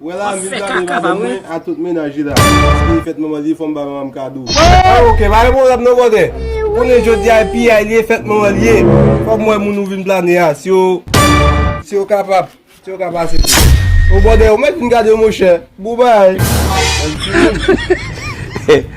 Wè la vin gade madanm mwen a tout mennaj li la paske e fèt manman li fòm ba manmanm kado. Wee ok pa gen pwoblèm non brother konnen jodia e piyay li e fèt manmanl ye fòm wè moun ou vin plane a si yo si yo ka pa si yo ka pa asepte oh brother ou mèt vin gade monchè bon bagay.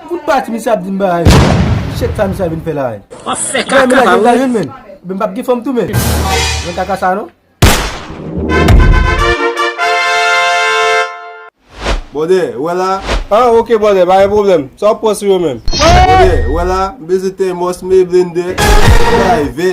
Fout pati misye ap dim bagay yo. Shit sa misye vin fè la a. Wap fè kaka pa ou menm. Menm m pap gen fòm tou menm. Nan kaka sa non. Bòdè, ou wè la? Ah ok bòdè, pa gen pwoblèm. Sa wap pran sou yo menm? Bòdè, ou wè la? M bezwen tèmòs, m bezwen blendè, m bezwen bagay vè.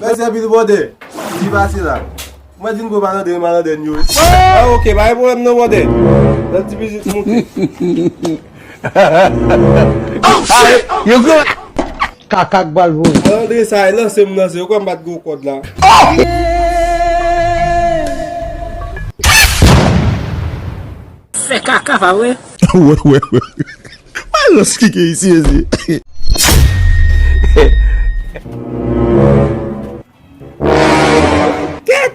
Mèsi anpil brother. Ki pase la? Mwen di m gwo malandren yo malandren yo. Ah ok, pa gen pwoblèm non brother. Nan ti bizit moute. Yon gwo kaka k pral voye. Malandren sa a lanse m lanse. Yo kwè m bat gwo kòd la. Fè kaka pa vre? Mwen rans ki gen isi mezi. Ket!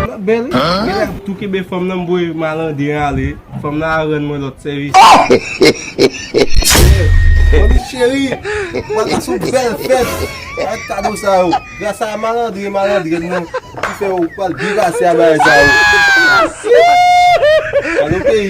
Nan bel wi. Genlè ap tou kenbe fanm nan mvoye malande an ale. Fanm nan a rann mwen lot sevis. Manmi cheri. Wap pase yon bel fet. Ak kado sa yo. Gras a malandren malandrèn nan. Ki fe ou pral byen pase a bagay sa yo. Merci. Kado peyi.